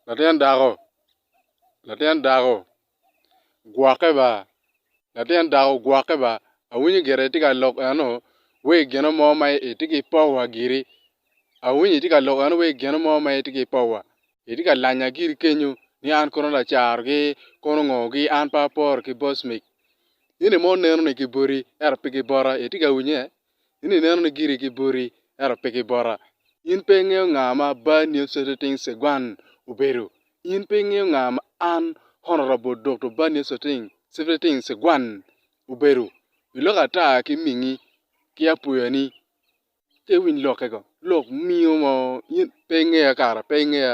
Latin dako, latin dako gwokke ba, latin dako gwokke ba, awinyo gire itye ka lok eno wa i gino mo ma itye ki powa giri, awinyo itye ka lok eno wa i gino mo ma itye ki powa, itye ka lanya giri kenyo ni an kono lacarogi kono ngo gi an pe aporo ki bosmic, in aye ma oneno ni kiboti ento pe kibota itye ka winye In ineno ni giri ki boti, ento pe ki bota. In pe ingeyo nga ma Bar Niyot Soteting Segwan obedo. In pe ingeyo nga ma an, Honorable Dokto Bar Niyot Soteting, Sifteting, Segwan obedo. Iloko ata ki mingi ki apuya ni, Ci iwiny lokke go. Lok mingo mo, in pe ingeya kara, pe ingeya.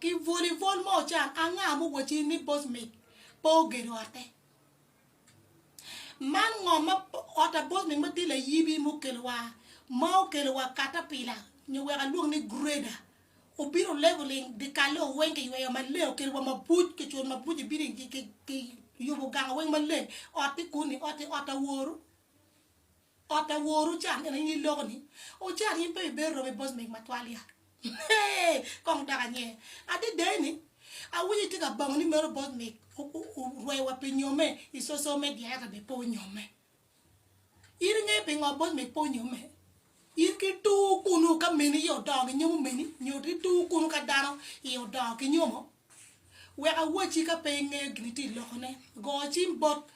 Ki volleyball ma ocan anga ma owacci ni Bosmic pe ogedo otte? Man ngo ma ot pa Bosmic ma tye layibi ma okelo wa ma okelo wa caterpillar nyo wek alwong ni grader obino leveling dyekalle wa weng kiyweyo maleng okelo wa mabuc kicuto mabuc ibini kiyubo ganga weng maleng ot tye kuni ot tye ot aworu. Ot a woru ocan en aye iloko ni ocan in pe ibedo romo i bos meg matwal ya hee kong dok anye adada eni awinyo itye ka bango ni meno bos meg orweo wa pi nyome i social media ento bene pe onyome in ingeyo pingo bos meg pe onyome in ki tur kunu ka meni iye odongo ki nyomo meni nyo ki tur kunu ka dano iye odongo ki nyomo wek awaci ka pe ingeyo gin itye iloko ne go cim bot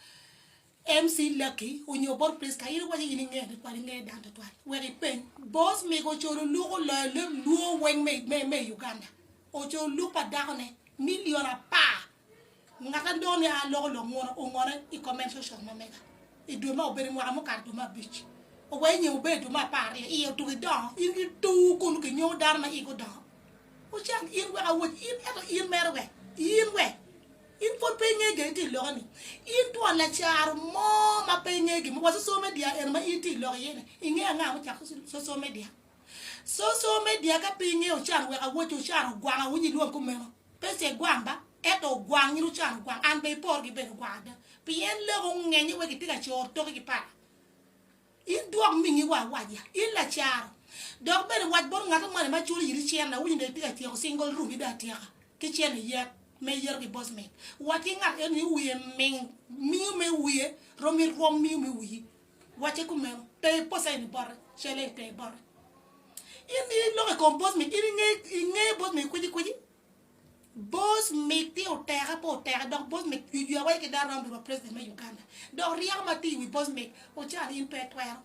MC Lucky onyo bot Prisca, in iwaco in ingeyo ni kwar ingeyo dano twatwal, wek ipeny. Boss Migo ocodo luk oloyo leb luo weng me me i Uganda. Ocodo luk pa dako ne million apar. Ngat adongo ni aa loko lok ngone ongone i comment section ma mega. I dwe ma obedo i mwaka mukato dwe ma abic. Owe nyem obedo dwe ma apar aryo iye otuki dongo in ki tuu kulu ki nyoo dano ma igi odongo. Ocang in wek awec in ento in mere wek in wek. In pwod pe ingeyo jo itye iloke ni. In twon lacaro mo ma pe ingeyo gin mo wa social media eno ma in tye iloko iye ni. Ingeyo anga ma ocako social media? Social media ka pe ingeyo ocano wek awoco ocano ogwanga winy ilwong kumeno. Pesa egwang ba ento ogwang in ocano ogwang an be ipor gibed ogwang ada pien lok ongeny ni wek itye ka coro toki ki pala. In dwok mingiwa awaca, in lacaro, dok bene wac bot ngat mo ni ma culo iri cen ni, Awinyo ni itye ka tyeko cingol rumi dong atyeka ki cen ni yet me yero ki bocmen. Wac ki ngat eno ni wiye ming, miyo me wiye rom i rwom miyo me wiyi. Wacce kumeno, pe iposa eni bote, cele ite bote. In iloko i kom bocmen, in ingeyo bocmen kwicikwici? Both mitte oteke pe oteke dok both mit jujua wai ki Daram Lurwa president me Uganda dok ryeko ma tye i wi both mit ocalo in pe itwero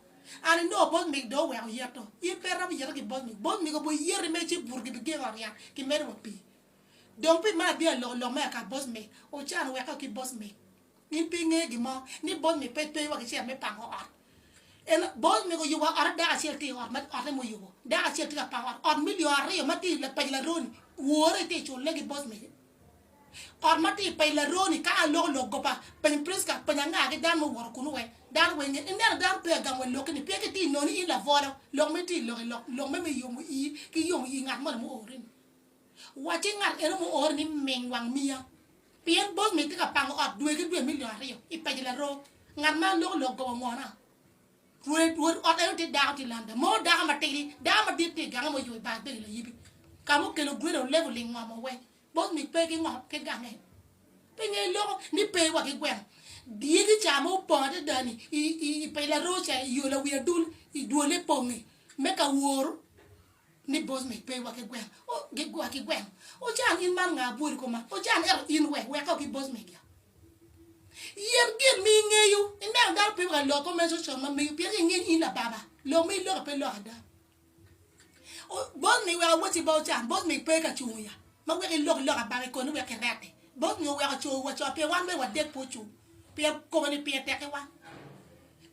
and I know both mit dong oweko yeto in pe iromo yete ki both mit both mit obwoi yeti mere ci buto gibi gengo ryat ki medo wa pii dong pi meno adhi aloko lok me aka both mit ocano weko ki both mit. In pe ingeyo gin mo ni bol ni pe wa ki cel me pango ot. En bol ni oyubo ot adek acel tye i ot ma ote ma oyubo dek acel tye ka pango ot. Ot me lyo aryo ma tye i paco laroni wore tye cule ki bol ni. Ot ma tye i paco laroni ka an loko lok goba peny Prisca peny anga ki dano ma owoto kunu wek dano weng nge. Ineno dano pe agamo wa lokki ni pien ki tye inoni in labolo lok ma itye lok lok me yomo ii ki yomo ii ngat moni ma oori ni. Wacci ngat eno muori ni ming wang miya, pien bog mi tye ka pango ot dwe ki dwe milion aryo i paco laroo. Ngat ma loko lok goba ngona. Rwed rwod ot eno tye dako tye landa mo dako matidi dako madit tye igange moyubo i bar bedi layibi ka mukelo greda olevel lingomo we bog mi pe ki ngo ki gange pe ngeyo loko ni pe wa ki gweno dyegi ca ma opong adada ni i paco laroo ca i yo lawi adul dwole pong me ka wor. ni Bosnic pe iwaki gweno, o, giwaki gweno. Ocan, in man nga abwori kop man? Ocan, ento in we, weka oki Bosnic ya. Yen gin ma ingeyo, ineno dano pe ka loko meco con ma meyo, pien inge ni in lababa, lok ma iloko pe lok ada. O, Bosnic wek awoti ba Ocan, Bosnic pe ka cungo ya, ma wek ilok lok abaka ikoni wek kirette. Bosnic oweko cowa co, pien wan bene wadek pe ocung, pien kobo ni pire tek ki wan.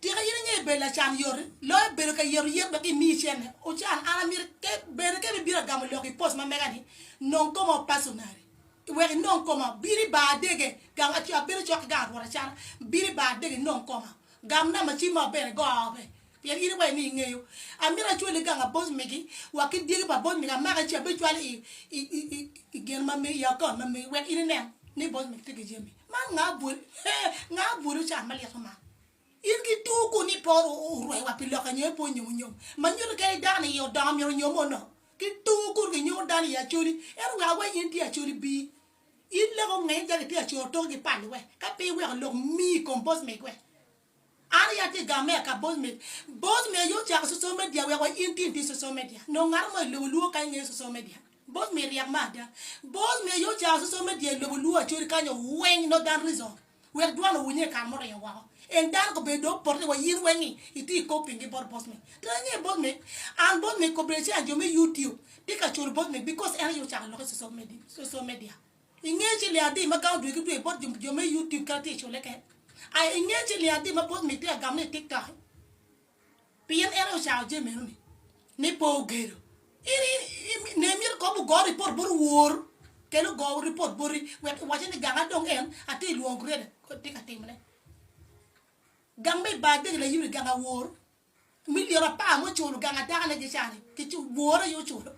Tika in ingeyo bedo lacan yot loyo bedo ka yeto yet wek imi icenne? Ocan, an amito ke, bene ke bibino agamo lok i post ma mega-ni, Nong Koma o Personally. Wek inong koma, bino i bar adege, gam, aco, abedo cok ki gang Rwot acana, bino i bar adege inong koma. Gam namba cim ma bene go aope, pien in iwaco ni ingeyo. Amito acwali gang pa boss megi wa ki dyegi pa boss megi amake ci abicwalo i, i, i, i, i gin ma megi, i account ma megi wek in inen ni boss megi tye ki jami. Man nga bwolo eeh nga bwolo can malik ma in ki tur kuni ipo orue wa pi loka nyo ipo onyomo nyom ma nyuto kadi i dano iye odongo myero onyom o no ki tur kuni ki nyuto dano iye acholi ento wek aweny in tye acholi bii in leko nge in calo itye acol toki ki pali wek ka pi iweko lok mi compose me gwe. An aye atye gar me aka bos me bos me aye ocako social media wek wa in tin pi social media nongo ngato mo ilobo luo kany ngeyo social media bos me ryek me ada bos me aye ocako social media ilobo luo acoli kany o weng no dan reason wek dwan owinye ikare mo ringo woko en dano kobedo do opote wa in weng ni itye ikop pingi bot bos me to en nge bos me an bos me kobbe ci an jo me youtube tika culu bos me because en aye ocako lok i social media. I nge ci liadi ma gang odwe ki dwe bot jo me YouTube kadi tye i cule kek. A I nge ci liadi ma bot Mick tye ka gamme i TikTok ki. Pien en aye ocako jami meno ni. Ni pe ogedo. In ne imito kong wugo report bot wor kene ogo report boti wek iwacce ni gang adong en atye ilwongo Greda kodi tye ka timone. Gang me ibadegi layubbi gang awor. Milion apar ma oculo gang adaka ne gicange ki wore aye oculo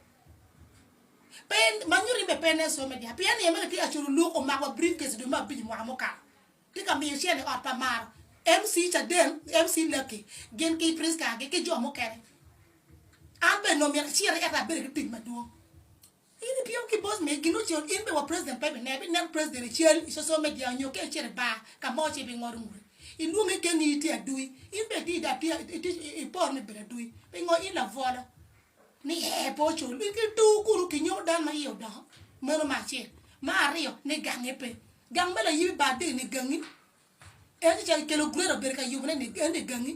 pe ma nyuto ni pe nen some dyang pien ni en bene tye ka culo luk omako wa brief case dwe me abic mwaka mukato tye ka miyo cene i ot pa maro MC cadeng MC laki gin ki prisca gi ki jo mukene an bene omyero aciti ento abedo ki tic madwong. In ipiyo ki bos me gin ocel in be wa president pe bine bi neno president i cel i social media nyo ka icito i bar ka mo ci bi ngodo ngudi ilwonge i gengi itye adui in be itye da iporo ni ibedo adui pingo in labwolo ni ee pe ocul in ki tur kunu ki nyomo dano ma iye odongo meno me acel me aryo ni gange pe gang me layibi bar deng ni gangi en ci cito kelo gureda obedo ka yubone ni en ni gangi.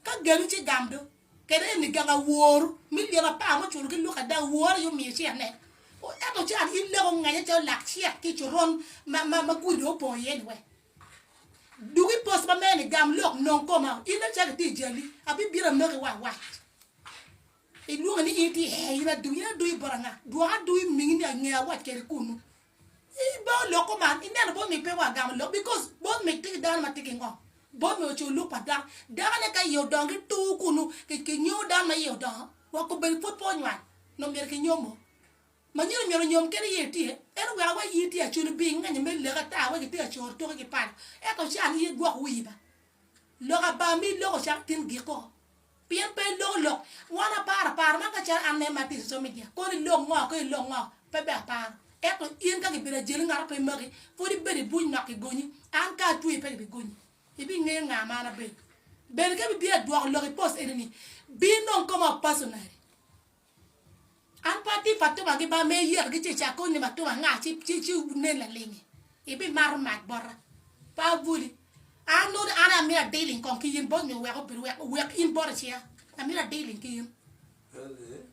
Ka geni ci gam do, kede eni gang awor me lyeto apar muculo ki lwok ada owor aye omiyo ci anek. Ento ci an in leka onganya calo lak cek ki i coron ma gudi dong opong iye ni wek duk i post ma mene gam lok nong koma in dong cake tye i jali abibito amaki wa awac ilwongi ni in itye ee in adui in adui bot anga dwok adui mingi ni ange awac kedi kunu I ba olok kuman i neno bot mi pe wa gamo lok because bot mi tye ki dano ma tye ki ngom bot mi ocoyo luk pa dano dano ne ka iye odongo ki tur kunu ki ki nyom dano ma iye odongo wa kobedi pud pe onywany nongo myero ki nyom o ma nyino myero onyom kene iye tye ento wek awe iyi tye aculu bi ingenyo me lek ata awe ki tye ka coro toki ki pala ento can iye gwok wiyi ba lok aba mi loko calo tin giko. Pien pe iloko lok wan aparo paro man ka calo an me mar tic social media kono ilok ngo ki ilok ngo pe ber aparo ento in ka kibino ajali ngat mo pe magi pwod ibedo ibuc nok kigonyi an ka atweyi pe kibigonyi ibingeyo nga ma an abedo bene ka ibitye ka dwoko lok i post enini binong koma personally. An pe atye pa tuma gi ba ma iyito gi ci ica koni ni ma tuma anga ci ci ci nen lalingi ibi mato mac bota pe abwoli an nongo an aye amito adiling kong ki in bot nyo weko bedo wek wek in bot iciya amito adiling ki in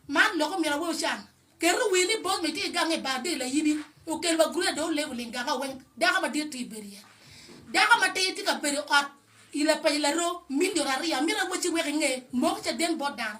man lok omyero awe ocan keto wi ni bot nyo itye igange ibar dye layibi okel wa guruya dong olevo ling ganga weng dako madit tye ibedo iye dako matir tye ka bedo i ot i lapaco laroo milion aryo amito awe ci wek inge moko caden bot dano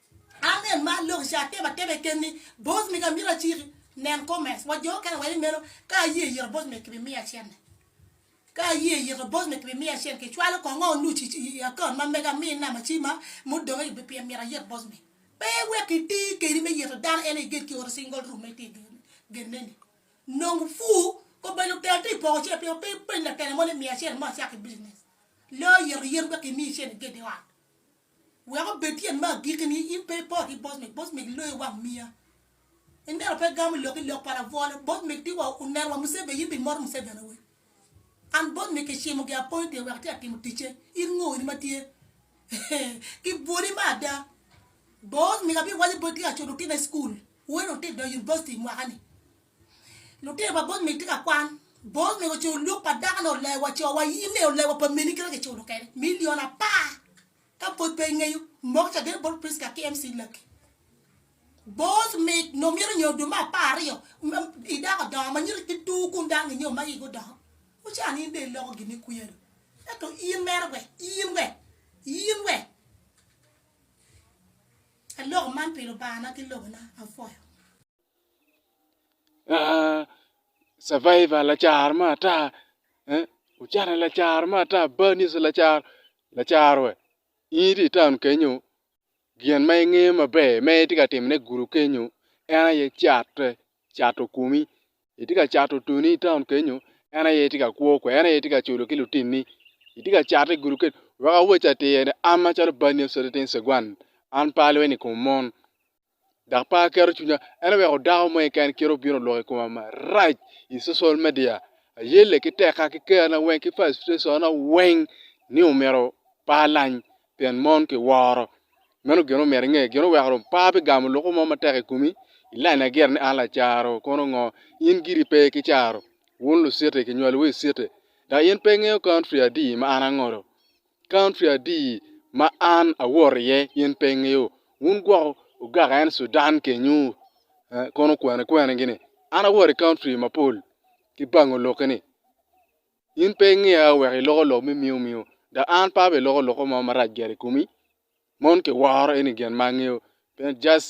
Amen mar lok ica atebo ateba i ken-ni, Both mega myero aciki. Nen comments wa jo okene weko i meno. Ka aye iyito both mega kibimiyo acente. Ka aye iyito both mega kibimiyo acente. Kicwalo kong ngo nucu i account ma mega mi namba ci ma mudong aye pien myero ayit both mega. Pe wek iti keni me yito dano en aye iged ki oti single room ma iti geneni. Nong fuu kong bed lutela ti poko cente pien pe ipeny latela mo ni miya cente mo acaki business. Lo yito yen wek imi cente iged i ot. Wek obed tyen me agikki ni in pe ipot ki Bosmik, Bosmik loyi i wang miya. Ineno pe gamo lok ki lok pa labwola, Bosmik ti wa oneno wa Museveni in be imoto Museveni awe? An Bosmik ki cimo gi appointed wek ati atimo ticce, in ngo in ma tye ki bwoli me ada? Bosmik abi waco boti acuto otinna i school, weri dong ti idonyo University mwaka ni. Lutino pa both mege tye ka kwan. Both mege oculo lwok pa dako ne oleo wa co wa in ne oleo wa pa mini kite kiculo kene million apar ka pwod pe ingeyo moko ca gene bot Prisca ki MC Lucky both mege nongo myero onyo dwe me apar aryo i dako odongo ma nyiro ki tur kun dano ginyo ma igi odongo mucan in dong iloko gini kwiya do ento in mere we in we in we aloko man pi Lubanga na ki lobo na apwoyo. Survivor lacaro me ata, Ocene lacaro me ata, Bar niso lacaro, lacaro we in itye i taun kenyo gin ma ingeyo maber ma itye ka timone i gudo kenyo en aye catte, cato komi itye ka cato tweni i taun kenyo en aye tye ka kwo kwede en aye tye ka culo ki lutinni itye ka cate i gudo kenyo wek awacci atir ni an macalo bar niso niting cegwan an pe alweny i kom mon. dok pe aketo cwinya. En oweko dako mo keken kite obino oloko i koma marac i cocol media. Ayelle ki tekka ki kerna weng ki fastrationa weng ni omyero pa alany pien mon kiworo. Meno gin ma omyero inge. Gin oweko dong pa bigamo luku mo matek i komi, ilanya gire ni an lacaro kono ngo. In giri pe ki caro. Wun Lusiti kinywalowu i citi dok in pe ingeyo country adi ma an ango do. County adi ma an awot iye in pe ingeyo? Wun gwoko ogaka en Sudan kenyu kono kwene kwene gini an awot i county mapol ki bango lokke ni in pe ingeya wek iloko lok me miyo miyo dok an pe abe iloko loko mo marac gire i komi mon kiworo eni gin ma angeyo just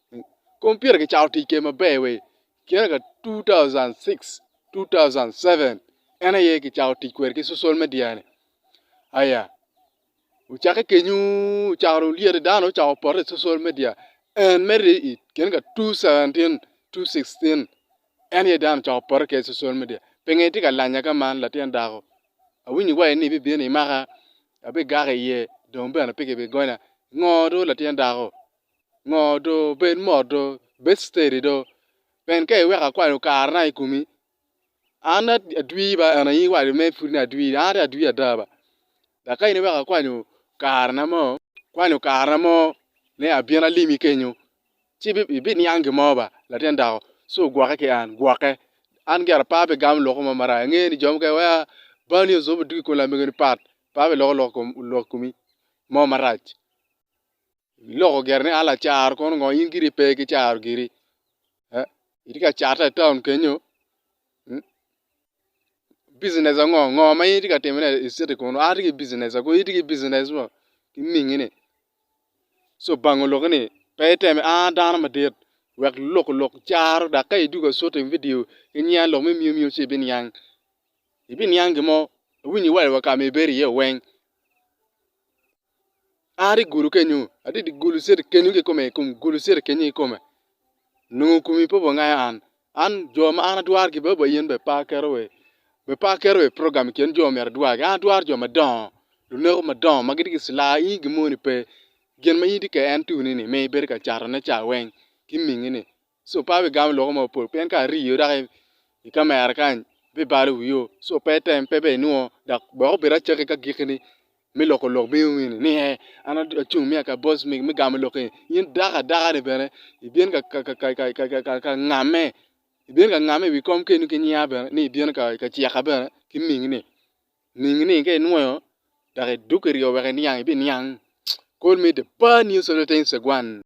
Kompita kicato tic kede maber wa i kine ka 2006, 2007 en aye kicato tic kwede ki cusol media ni aya wucakke kenyo wucako lyete dano ocako poto i cusol media and medo i kine ka 2017, 2016 en aye dano ocako poto kede i cusol media pinge itye ka lanya ka man latin dako awinyo wa ni ibibino imaka abigako iye dong bene pe kibigonya ngo dong latin dako. ngo do bed mot do bed steady do pien ka iweko akwalo kare na i komi an adwi ba en aye iwaco mere pud ni adwi an aye adwi ada ba dok ka in iweko akwalo kare na mo kwanyo kare na mo ni abin alimi kenyo ci ibiniang gin mo ba latin dako ci ogwokke ki an gwokke an gire apa pi gamo lok mo marac ange ni jo mukene waci a bal ni ozobi dok i kom lamego ni pat apa pi lok lok i komi mo marac Iloko gire ni Allah caro kono ngo in giri pe ki caro giri. Eh, itye ka cata i taun kenyo. Hmm? Business ango ngo ma in itye ka timo ne i city kono. Atye ki business ako itye ki business mo ki mingi ni. So bang oloki ni pe iteme a dano madit wek loko lok caro dak ka iduga city video ki nyinga lok me miyo miyo ci ibiniang. Ibiniang gimo awinyo iwal wa kami ibedo iye weng. Ar i gulu kenyu, adhi dye gulu citi kenyu kikome i kom gulu citi kenyu kikome, nongo komi pe obongayo an, an jo ma an atwaro ki bene ba in bene ipar keto wa i, be ipar keto wa i program i kin jo myero adwagi, an atwaro jo madongo, luneko madongo ma gitye ki cilaa in gin moni pe, gin ma in itye kede en tuni-ni ma ibedo ka catone cawa weng ki mingi-ni so pe abigamo loko mo mapol pien ka ariyo dok i kamera kany abibalo wio so pe item pe bene inwo dok wek obed acakki ka gikki ni me loko lok bino wini ni ee an acung me aka boss me gamo lok eni in dako adaka ni bene ibin ka ngame ibin ka ngame i wi kom kenyo ki nyinga bene ni ibino ka cika bene ki mingi ni mingi ni ka inwoyo dok idwogo i ryo wek iniang ibiniang col me the bar news of the tenth Saguan.